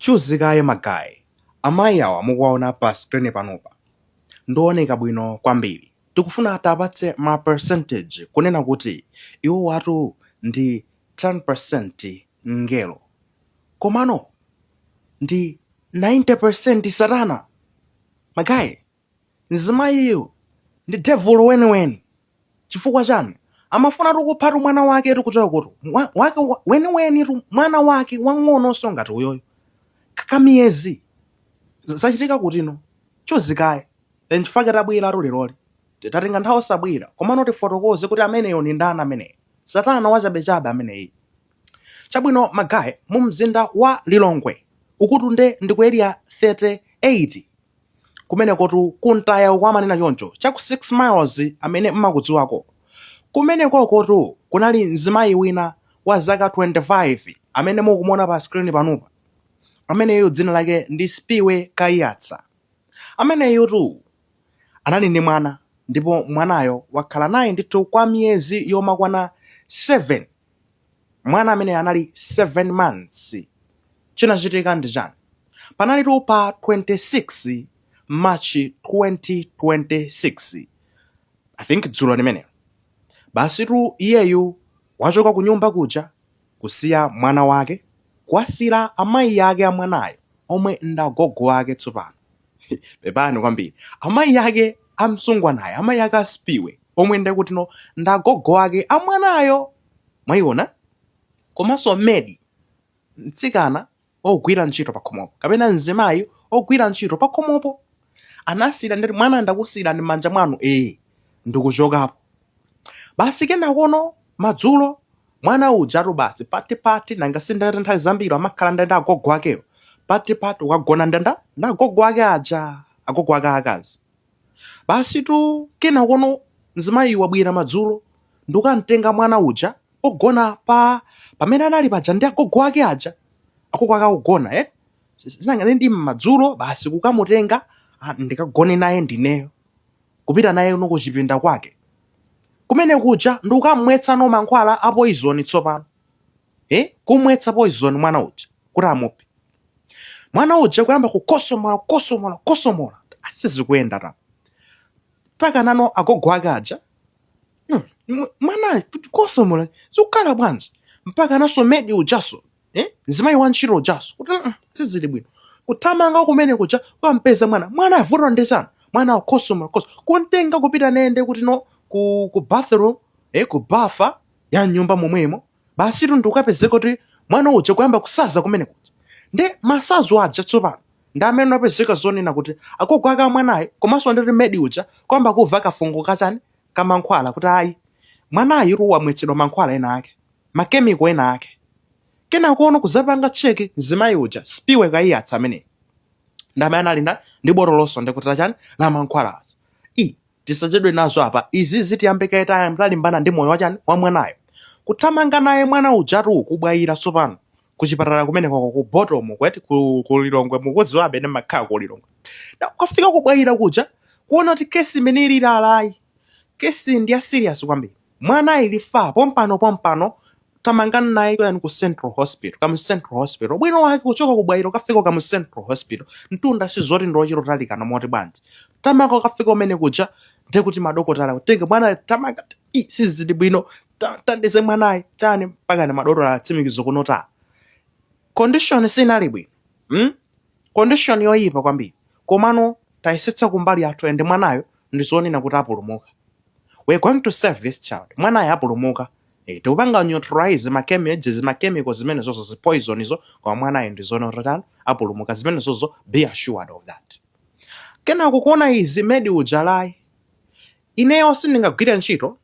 Chuzikaye ma guy, amayi awa mukuwaona pa screen panopa ndiooneka bwino kwambiri, tikufuna tiapatse ma percentage kunena kuti iwowatu ndi 10% mngelo komano ndi 90% satana! Ma guy! Mzimayiyu ndi devulu weniweni. Chifukwa chani? Amafunatu kuphatu mwana waketu kuchoka kuti wa- wake wa- weniwenitu mwana wake wang'ononso ngati uyoyo. Ka- Kamiyezi Z- zachitika kutino chuzikaye n'chifukwa chake tabweratu leroli T- tatenga nthawi osabwera komano tifotokoze kuti ameneyo ndi ndani ameneyo satana wachabechabe ameneyu chabwino ma guy mu mzinda wa lilongwe ukotu nde ndi ku area 38 kumenekotu ku mtaya uko amanena choncho cha ku 6 miles amene mmakudziwako kumenekokotu kunali mzimayi wina wa zaka 25 amene mukumuona pa screen panopa ameneyo dzina lake ndi spiwe kayatsa ameneyutu anali ndi mwana ndipo mwanayo wakhala naye ndithu kwa miyezi yomakwana 7 mwana amene anali 7 months chinachitika ndi chani panalitu pa 26 march 2026 i think dzulo limeneli basitu iyeyu wachoka kunyumba kuja kusiya mwana wake kuwasiyira amayi ake a mwanayo omwe ndagogo wake tsopano pepani kwambiri amayi ake a mtsungwanayo amayi ake a spiwe omwe ndakutino ndi agogo ake a mwanayo mwayiona komanso medi mtsikana ogwira ntchito pakhomopo kapena mzimayi ogwira ntchito pakhomopo anasiyira ndekuti mwana ndakusiyirani m'manja mwanu ee ndikuchokapo basi kenakono madzulo mwana ujatu basi patipati nanga sindata nthawi zambiri amakhala ndi ndani agogo akewo patipati wagona ndi ndani ndi agogo ake aja agogo ake akazi basi tu kenakono mzimayi wabwera madzulo ndikamtenga mwana uja pogona pamene anali paja ndi agogo ake aja agogo ake akugona eh? nanga ndi madzulo basi kukamutenga ah, ndikagone naye ndi ineyo kupita naye no kuchipinda kwake kumene kuja ndi kukam'mwetsa no mankhwala a poizoni tsopano eh? kum'mwetsa poizoni mwana uja kuti amuphe mwana uja kuyamba kukhosomola kukhosomola kukhosomola ah sizikuyenda ta mpaka nano agogo ake aja hmm, mw- mwana kukhosomola zikukhala bwanji mpakananso medi ujanso eh? mzimayi wa ntchito ujaso kuti mm, sizili bwino kuthamanga kumene kuja kwampeza mwana mwana vuto ndi chani mwana akhoso makhoso kumutenga kupita naye kutino ku, ku bathroom eh, ku bafa ya nyumba momwemo basitu ndikupezeka kuti mwana uja kuyamba kusanza kumene kuja ndi masanzi aja tsopano ndi amene apezeka zoona kuti agogo ake amwanayo komanso ndi medi uja kuyamba kumva kafungo kachani kamankhwala kuti ayi mwanayutu wamwetsedwa mankhwala ena ake makemiko ena ake kenakono kuzapanga cheki mzimayi uja spiwe Kayatsa ameneyi ndamene anali ndi botolonso ndikuti la chani la mankhwala aja i tisachedwe nazo apa izi zitiyambe kaye talimbana ndi moyo wachani wa mwanayo kuthamanga naye mwana ujatu ku Bwaila tsopano kuchipatala kumeneko ku botomu kuti ku, ku lilongwe mukudziwa amene makhala ku lilongwe na kukafika ku Bwaila kuja kuona kuti kesi imene ili apayi kesi ndi ya serious kwambiri mwanayu afa pompano pompano thamangani naye kuti ku central hospital Kamuzu central hospital bwino wake kuchoka ku Bwaila kukafika Kamuzu central hospital mtunda sizoti ndi ochita kutalikana moti bwanji thamanga kukafika kumene kuja ndiye kuti madokotala kutenga mwana thamanga "Ih, sizili bwino ta- thandize mwanayu chani mpakana madokotala atsimikiza kunoko condition sinali bwino mm? condition yoyipa kwambiri komano tayesetsa kumbali yathu ende mwanayo ndizoona kuti apulumuka we're going to save this child mwanayu apulumuka Eh, tikupanga neutralize makemiko zimakemiko zimene zozo zipoison izo koma mwanayu ndizoona kuti apulumuka zimene zozo be assured of that kenako kuona izi medi uja ayi ineyo sindingagwire ntchito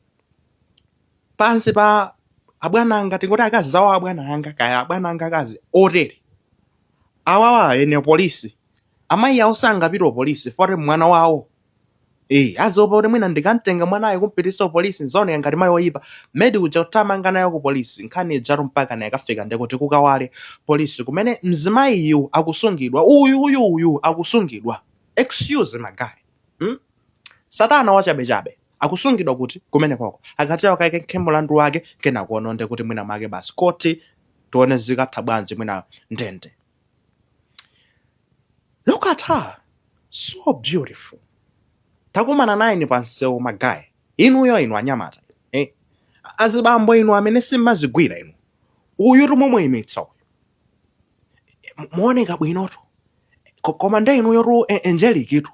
pansi pa abwana anga tingoti akazi awo abwana anga kaya abwana anga akazi otere awawa eni polisi amayi awo sangapite polisi for mwana wawo Eh, aziopa kuti mwina ndikamtenga mwanayo kumpititsa ku polisi ndzaoneka ngati mayi oyipa. Medi uja kuthamanga nayo ku polisi. Nkhani ijatu mpakana yakafika ndekuti ku Kawale polisi kumene mzimayiyu akusungidwa. Uyu uyu uyu akusungidwa. Excuse magayi. Hmm? Satana wachabechabe akusungidwa kuti kumenekoko kuti akayankhe mulandu wake kenakono ndekuti mwina mwake basi khoti tione zikatha bwanji mwina ndende look at her so beautiful mutakumana nayeni pansewu magayi inuyo inu anyamata eh? azibambo inu amene simmazigwira inu uyu tu mumuyimitsa uyu Mu- muoneka bwinotu Ko- koma nde inuyotu eh, angelictu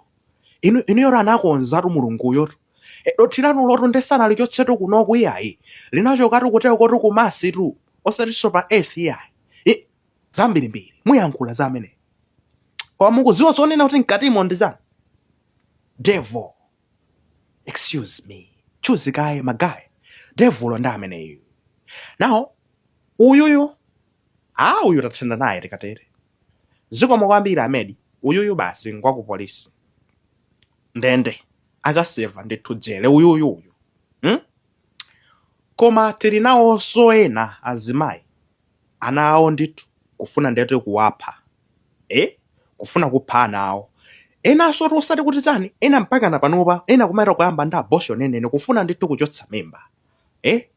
inu inuyo anakonzatu mulunguyotu Eh, dothi lanulotu nde sanalichotsetu kunoku iyayi linachokatu kuteko kotu ku Mars tu osatinso pa earth iyayi I- zambirimbiri muyankhula za ameneyo koma mukuziwa zonena kuti mkatimo ndi zani devil excuse me chuzi kaye magaye devulo ndi ameneyu now uyuyu a uyu tathana naye tikatere zikomo kwambiri amedi uyuyu basi ngwakupolisi ndende akaseva ndithu jele uyuyu uyu hmm? koma tili nawonso ena azimayi ana awo ndithu kufuna ndithu kuwapha eh kufuna kupha ana awo enanso oti osati kuti chani ena mpaka na panopa ena kumaita kuyamba ndi abortion enene kufuna ndithu kuchotsa mimba eh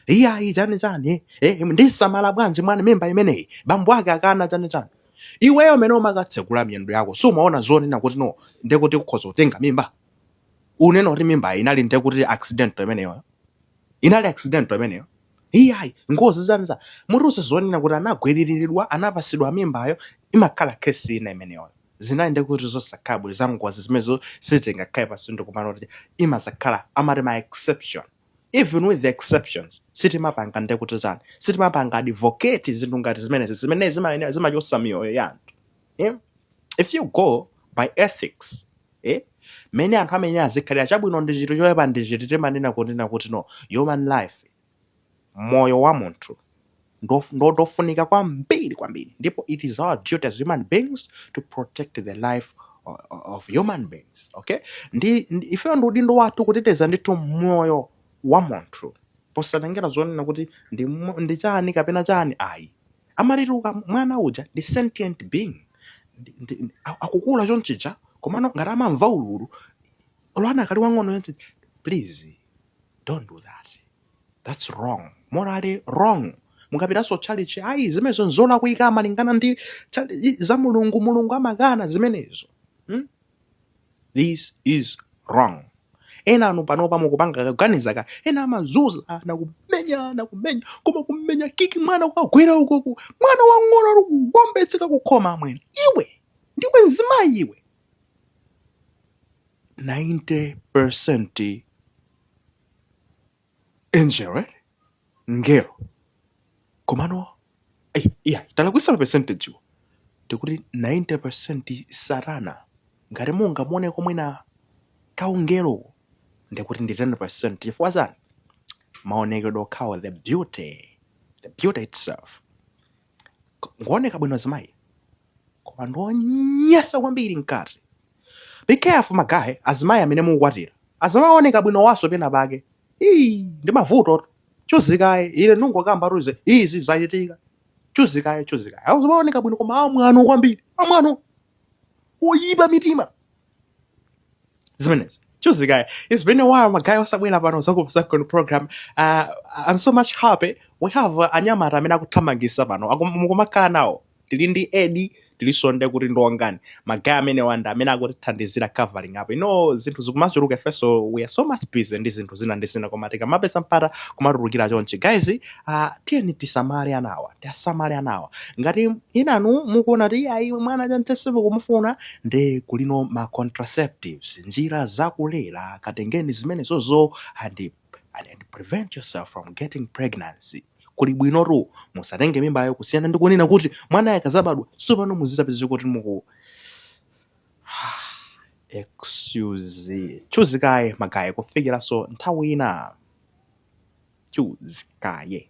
iyayi chani chani eh ndisamala bwanji mwana mimba imeneyi bambo ake akana chani chani iweyo amene umakatsekula miyendo yako sumaona zonena kuti no ndekuti ukhoza kutenga mimba unena kuti mimba inali ndekuti accident imeneyo inali accident imeneyo iyayi ngozi zani za mutiuze zonena kuti anagwiriridwa anapasidwa mimbayo imakhala kesi ina imeneyo zinali ndekuti zosakhala bwino za ngozi zimenezo sitingakhale pasi ndikumanena kuti imazakhala amati ma exception even with the exceptions sitimapanga ndekuti zani sitimapanga advocate zinthu ngati zimenezi zimene zimayenera zimachosa miyoyo ya anthu eh? if you go by ethics eh? mene anthu amene azikhalira chabwino ndi chiti choyipa ndi chiti timanena kunena kuti no human life moyo wa munthu ndo- ndo- ndofunika kwambiri kwambiri ndipo it is our duty as human beings to protect the life o- o- of human beings okay ndi, ndi ifeyo ndi udindo wathu kuteteza ndithu moyo wa munthu posatengera zonena kuti ndi, mo- ndi chani kapena chani ayi amati tuka mwana uja ndi sentient being ndi- ndi- ndi- a- akukula chonchija komano ngati amamva ululu olo ana akali wang'ono choncho please don't do that that's wrong morally wrong mukapitanso tchalichi ayi zimenezo nzolakwika malingana ndi tchali- za mulungu mulungu amakana zimenezo hmm? this is wrong ena ano panopa mukupanga kaganiza ka ena amazunza ana kumenya ana kumenya koma kumenya kiki mwana kukagwera ukoku mwana wang'ono uli kuwombetseka kukhoma amwene iwe ndiwe nzimayi iwe 90 Angel, right? Ngelo. Komano, eh, iya, talakwisa percentage yo. Tikuti 90% satana. Ngati mungamuoneko mwina kaungelo. Ndikuti ndi 10% chifukwa chani? Maonekedwe okhawo the beauty. The beauty itself. ngooneka bwino azimayi koma ndi onyansa kwambiri mkati be careful magaye azimayi amene mukukwatira azimayi ooneka bwino awanso pena pake ii ndi mavuto tu. chuzikaye ine ndingokamba tuze izi zachitika chuzikaye chuzikaye azimayi ooneka bwino koma amwano kwambiri amwano oyipa mitima zimenezi chuzikaye it's been a while magaye osabwera pano Zakupsa Zone program uh, i'm so much happy we have uh, anyamata amene akuthamangisa pano mukumakhala nawo tili ndi edi tilinso nde kuti ndi Wongani magaye amenewa nda amene akutithandizira covering up ino zinthu zikumachuluka ifenso we are so much busy ndi zinthu zina ndi zina koma tikamapeza mpata kumatulukira chonchi guys uh, tiyeni tisamale anawa tiasamale anawa ngati inuyo mukuona kuti ayi mwana sindikumufuna nde kuliko ma contraceptives njira zakulera katengeni zimenezozo and and prevent yourself from getting pregnancy kuli bwinotu musatenge mimbayo kusiyana ndi kunena kuti mwanayo akazabadwa sopano muzidzapezeka kuti muku excuse chuzikaye magaye kufikiranso nthawi ina chuzikaye